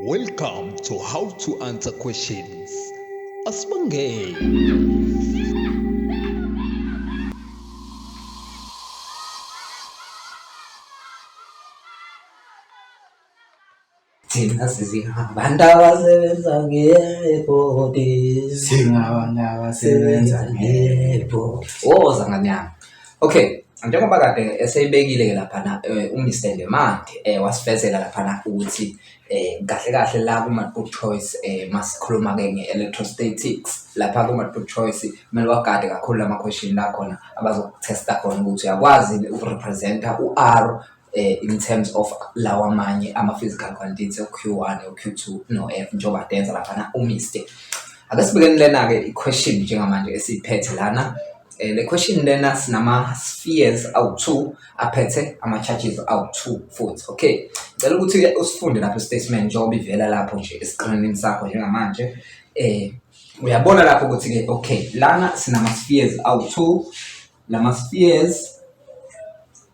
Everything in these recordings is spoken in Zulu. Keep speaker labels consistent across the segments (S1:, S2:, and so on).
S1: Welcome to How to Answer Questions. Asibongeni.
S2: Thina sizingabantu abasebenza ngebhodi. Singabantu
S3: abasebenza ngebhodi. Woza nganyama.
S2: Okay, njengoba kade eseyibekile ke laphana eh, uMr Lemande eh, wasifezela laphana ukuthi eh, kahle kahle la kuma-good choice eh, masikhuluma ke nge-electrostatics lapha kuma-good choice kumele wagade kakhulu lama-question la khona abazokutesta khona ukuthi uyakwazi ukurepresenta u-r eh, in terms of lawa amanye ama-physical quantities o-q one o-q two no-f njengoba kade yenza laphana umiste ake sibekeni lena-ke i-question njengamanje esiyiphethe lana um le question lena sinama-spheres awu-two aphethe ama-charges awu-two futhi okay cela ukuthi usifunde lapho i-statement njengoba ivela lapho nje esikrinini sakho njengamanje um uyabona lapho ukuthi-ke okay lana sinama-spheres awu-two lama-spheres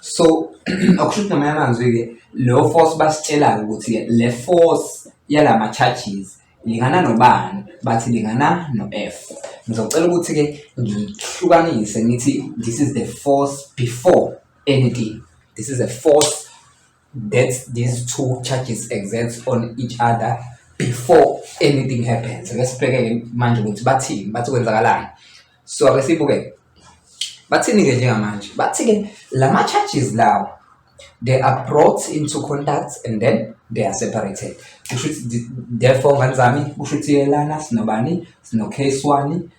S2: so akusho ukuthi ngamanye amazwi-ke leyo force basitshelayo ukuthi le force yala ma-charges lingana nobani bathi lingana no-f ngizocela ukuthi-ke ngihlukanise ngithi this is the force before anything this is a force that these two charges exist on each other before anything happens ake sibhekeke manje ukuthi bathini bathi kwenzakalani so ake sibuke bathini-ke njengamanje bathi-ke la ma-charges lawo they are brought into contact and then they are separated kusho ukuthi therefore ngane zami kusho ukuthi yelana sinobani sino-case one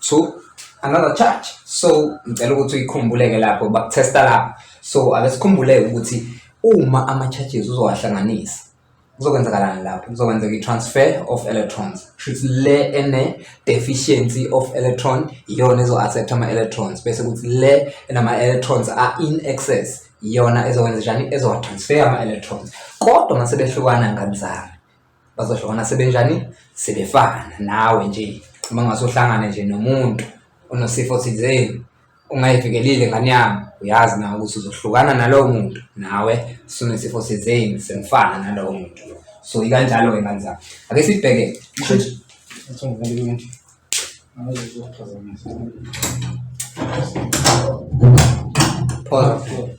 S2: to another charge so ngicela ukuthi uyikhumbuleke lapho bakutesta lapho so ake sikhumbuleke ukuthi uma ama-charges uzowahlanganisa kuzokwenzakalani lapho kuzokwenzeka i-transfer of electrons shuthi le ene-deficiency of electron iyona ezo-accept ama-electrons bese kuthi le enama-electrons a-in excess iyona ezokwenza njani ezowatransfer ama-electrons kodwa uma sebehlukana kanjani bazohlukana sebenjani sebefana nawe nje uma ngasohlangana nje nomuntu onosifo thizeni ungayivikelile ngane yami uyazi nawe ukuthi uzohlukana nalowo muntu nawe sunesifo thizeni semfana nalowo muntu so ikanjalo-ke ngane zami ake sibheke Pause.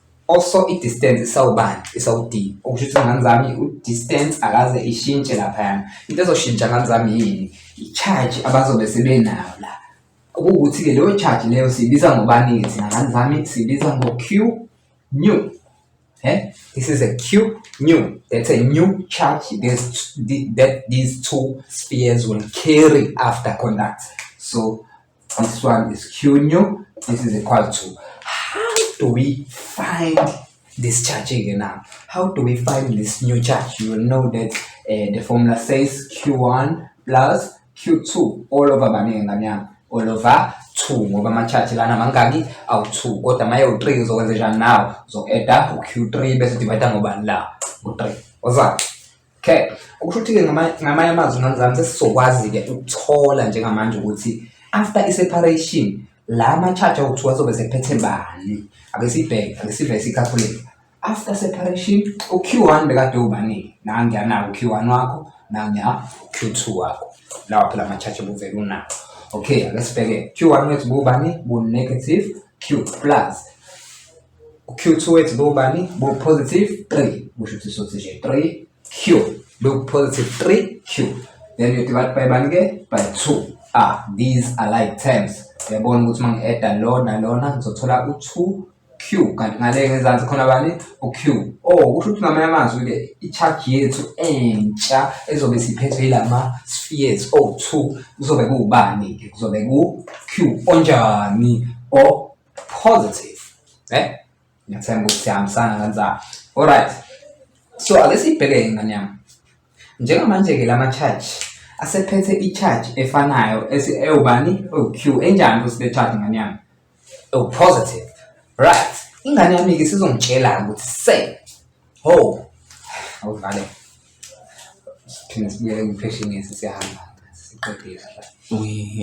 S2: also i-distance isawubani isawudini okusho ukuthi ngani zami u-distance akaze ishintshe laphayana into ezoshintsha ngani zami yini i-charge abazobe sebenayo la okuwukuthi-ke leyo charge leyo siyibiza ngobani-ke thina ngani zami siyibiza ngo-q new eh? this is a q new that's a new charge this, that these two spheres will carry after conduct so This one is Q new. This is equal to. How do we find this charge again now? How do we find this new charge? You will know that uh, the formula says Q1 plus Q2 all over baningi ngane yami all over 2 ngoba ama-charge lana mangaki awu-2 kodwa maye u-3 uzokwenza njani nawo uzoku-eda u-q3 bese divayida ngobani la u-3 oza Okay. Ukusho ukuthi-ke ngamanye amazwi ngane zami sesizokwazi-ke ukuthola njengamanje ukuthi after i-separation la ma-charge awuthiwa azobe sephethe bani ake sibheke ake sivele sikhaphuleke after separation uq one bekade uwubaningi nangiyanako uq one wakho nangiya uq two wakho lawa phela ama-charge obuvele unawo okay ake sibheke q one wethu buwubani bu-negative q plus Q2 ethi bobani bo positive 3 kusho ukuthi sothi nje 3 Q look positive 3 Q then you divide by bani ke by 2 ah these are like terms uyabona ukuthi uma ngi-adda lona lona ngizothola u-2 Q kanti ngale ngezansi khona bani u-Q oh kusho ukuthi ngamanye amazwi ke i-charge yethu entsha ezobe siphethwe yilama spheres o-2 kuzobe kuwubani ke kuzobe ku-Q onjani o positive eh ngiyathemba ukuthi sihambisana kanjani alright so ake sibheke ingane yami njengamanje ke lama charge asephethe i-charge efanayo ewubani owu-q enjani ukuthi le charge ingane yami ewu-positive right ingane yami-ke sizongitshela ukuthi se ho awuvale siphinde sibuyele ngipheshinisi siyahamba siqedile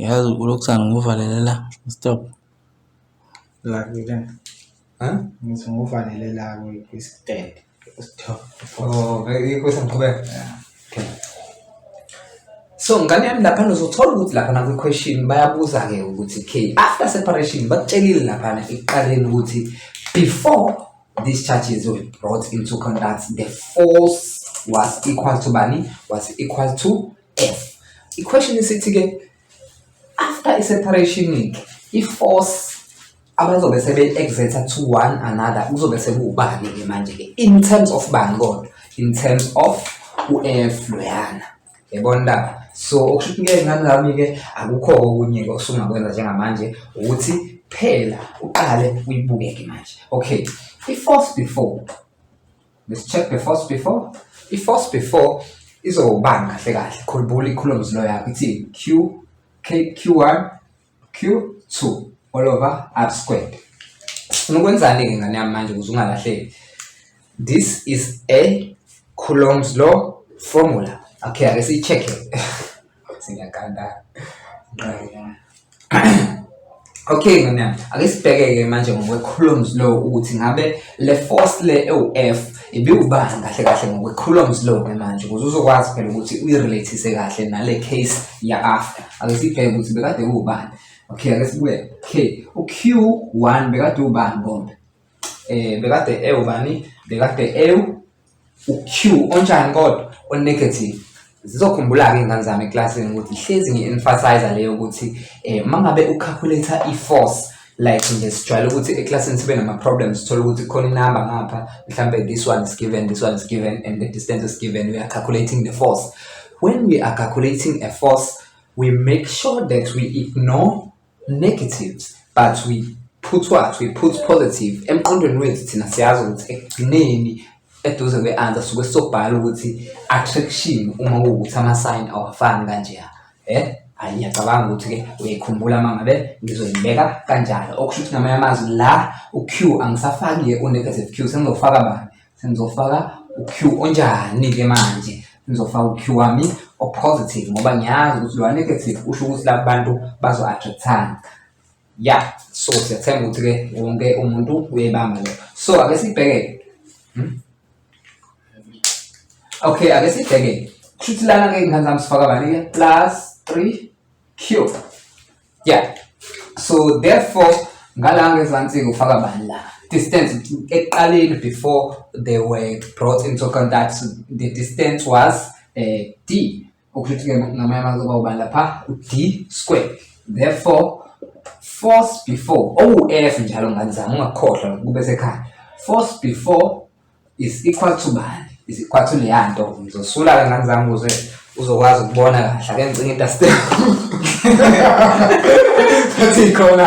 S2: yazi ulokusana
S3: nguvalelela stop Ngakile. Ha? Ngithi ngofanele la kwi-stand. Stop. Oh,
S2: ikho sengiqhubeka. So ngane yami lapha uzothola ukuthi lapha na question bayabuza ke ukuthi ke after separation bakutshelile lapha ekuqaleni ukuthi before these charges were brought into conduct the force was equal to bani was equal to F. I question isithi ke after i-separation-ke i-force abazobe sebe-exerta to one another kuzobe sekuwubani-ke manje-ke in terms of bani kodwa in terms of u-f loyana yabona ndaba so okusho ukuthi ngeke ngani lami-ke akukho okunye-ke osungakwenza njengamanje ukuthi phela uqale uyibuke-ke manje okay i-force before Let's check the force before. I-force before izowubanga kahle kahle. Khumbula i-coulombs law yakho ithi Q, K, Q1, Q2 all over R squared. Sifuna ukwenzani-ke ngane yami manje ukuze ungalahleki. This is a Coulomb's law formula. Okay, ake siyi-check-e. Singakanda. Right. Okay ngane ake sibheke-ke manje ngokwe-columns law ukuthi ngabe le force le ewu-F ibiwubani kahle kahle ngokwe-columns law ke manje ukuze uzokwazi phela ukuthi uyi-relathise kahle nale case ya-after ake sibheke ukuthi bekade uwubani okay ake sibuye okay u-Q one bekade uwubani bombe um bekade ewubani bekade ewu uq onjani kodwa onegative zizokhumbula-ke iy'ngane zami eklasini ukuthi hlezi ngi-emphasize leyo ukuthi um uma ngabe ucalculate i-force like nje sijwayele ukuthi eklasini sibe nama-problems sithole ukuthi khona inamba ngapha mhlawumbe this one is given this one is given and the distance is given we are calculating the force when we are calculating a force we make sure that we ignore negatives but we put what we put positive emqondweni wethu thina siyazi ukuthi ekugcineni eduze kwe-answer suke sobhala ukuthi attraction uma kuwukuthi ama-sign awafani kanjeya eh hayi ngiyacabanga ukuthi-ke uyayikhumbula uma ngabe ngizoyibeka kanjalo okusho ukuthi namanye amazwi la u-q angisafaki-ke u-negative q sengizofaka bani Sengizofaka u-Q onjani ke manje? Ngizofaka u-Q wami o-positive ngoba ngiyazi ukuthi lo negative usho ukuthi laba bantu bazo-attractana. Ya, so siyathemba ukuthi-ke wonke umuntu uyayibamba leyo. So ake sibheke. Hmm? Okay, ake sibheke. Kushuthi lana-ke ingane zami sifaka bani-ke? Plus 3 Q. yeah so therefore ngala ngezansi ngifaka bani la distance ekuqaleni before they were brought into contact the distance was uh, d ukuthi ke ngamanye amazwi kuba ubani lapha u-d square therefore force before owu-f njalo ngani zama ungakhohlwa kube sekhaya force before is equal to bani is equal to leya nto ngizosula ke ngane zami ukuze uzokwazi ukubona kahle ake ngicinge into step athi ikhona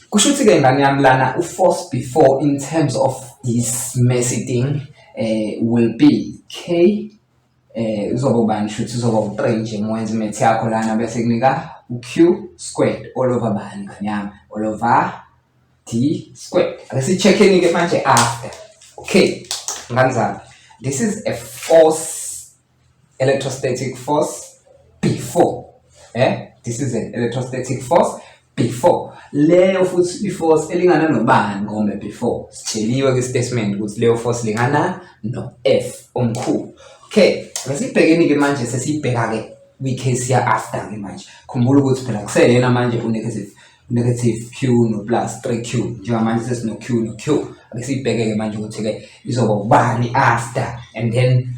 S2: kusho ukuthi ke ngane yami lana u-force before in terms of this messy thing uh, will be k eh uzoba ubani shuthi uzoba u-3 nje mwenze imethi yakho lana bese kunika u-q squared all over bani nganyama all over d squared ake si-check-eni-ke manje after okay ngani zami this is a force electrostatic force before eh this is an electrostatic force before leyo futhi iforce elingana nobani ngome before sitsheliwe kwistatement ukuthi leyo force lingana no F omkhulu okay asibhekeni ke manje sesibheka ke kwi-case ya after ke manje khumbula ukuthi phela kuseyena manje unegative negative q no plus 3q njengamanje sesino q no q ake sibheke ke manje ukuthi ke izoba ubani after and then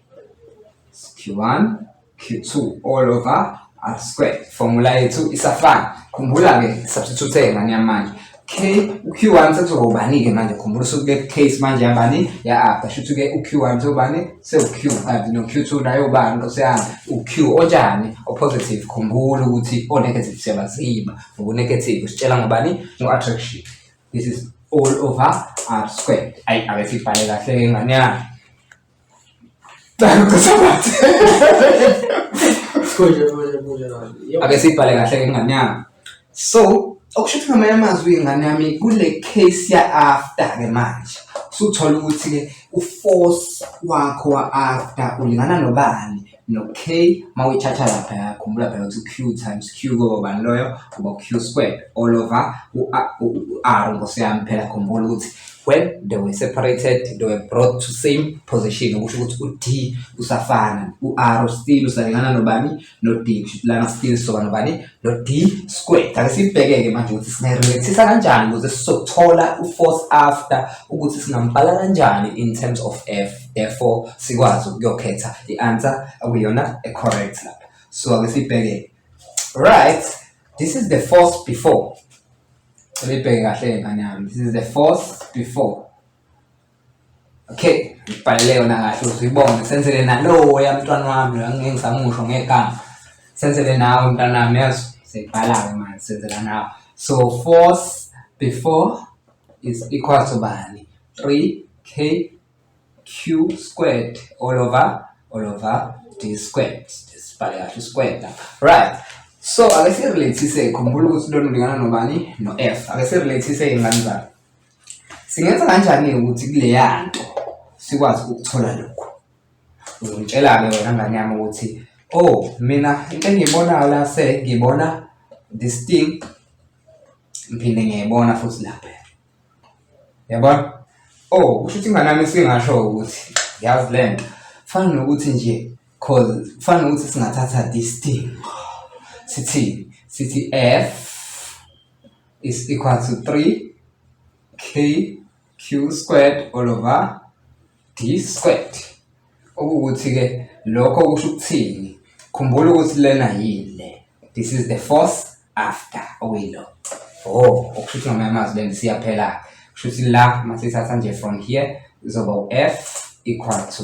S2: Q1 Q2 all over R square. Formula yethu isafana. Khumbula ke substitute ngani yamanje. K uQ1 sekuzohobani ke manje khumbula usuke ke case manje yabani ya R. Shuthi ke uQ1 sezobani sewuQ kanti no Q2 nayo ubani nkosiyami uQ onjani opositive khumbula ukuthi o negative siyabaziba ngoku negative sitshela ngobani ngo attraction. This is all over R square. Ayi abefibhale kahle ngane yami. ake siyibhale kahle ke ngane yami so okusho ukuthi ngamanye amazwi ingane yami kule case ya-after ke manje usuthola ukuthi-ke uforce wakho wa-after ulingana nobani no-k uma uyithatha laphaya khumbula phela ukuthi q times q koba bani loyo kuba q squared all over u-r nkosi yami phela khumbula ukuthi when they were separated they were brought to same position okusho ukuthi u-d usafana u-r still usalingana nobani no-d lana still soba nobani lo d squared ake sibheke-ke manje ukuthi singayi-relaxisa kanjani ukuze sizothola u-force after ukuthi singambhala kanjani in terms of f therefore sikwazi ukuyokhetha i-answer okuyona e-correct lapha so ake sibheke right this is the force before sebebheke kahle ngane yami this is the force before Okay, ngibhalele yona kahle uzibone senzele nalowo yamntwana wami ngeke ngisamusho ngegama. Senzele nawe mntwana wami yazi sibhala-ke manje senzela nawe. So force before is equal to bani? 3k q squared all over all over d squared. Sibhale kahle squared lapha. Right. So ake sirelathise khumbula ukuthi lona ulingana nobani no f. Ake sirelathise ingane zami. Singenza kanjani-ke ukuthi kuleya nto sikwazi ukuthola lokhu? Uzongitshela-ke wena ngane yami ukuthi oh mina into engiyibonayo la se ngibona this thing ngiphinde ngiyayibona futhi lapha yabona oh kusho ukuthi ingane yami singasho ukuthi yazi le nto fana nokuthi nje cause fana nokuthi singathatha this thing sithi sithi f is equal to 3 k q squared all over d squared okuwukuthi-ke lokho kusho ukuthini khumbula ukuthi lena yini le this is the force after okuyilo oh okusho ukuthi ngamanye amazwi lento siyaphela-ke kusho ukuthi la masithatha nje from here zoba u-f equal to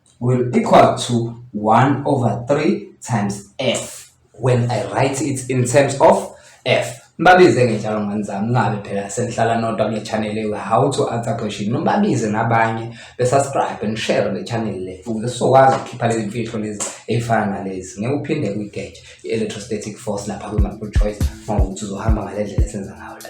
S2: will equal to 1 over 3 times f when I write it in terms of f Nibabize ngenjalo ngani zami ngabe phela senihlala nodwa kule channel ewe how to answer question. Nibabize nabanye be subscribe and share le channel le ukuze sizokwazi ukukhipha lezi mfihlo lezi ey'fana nalezi. Ngeke uphinde kwi-gauge i-electrostatic force lapha kwi-multiple choice ngokuthi uzohamba ngale ndlela esenza ngayo la.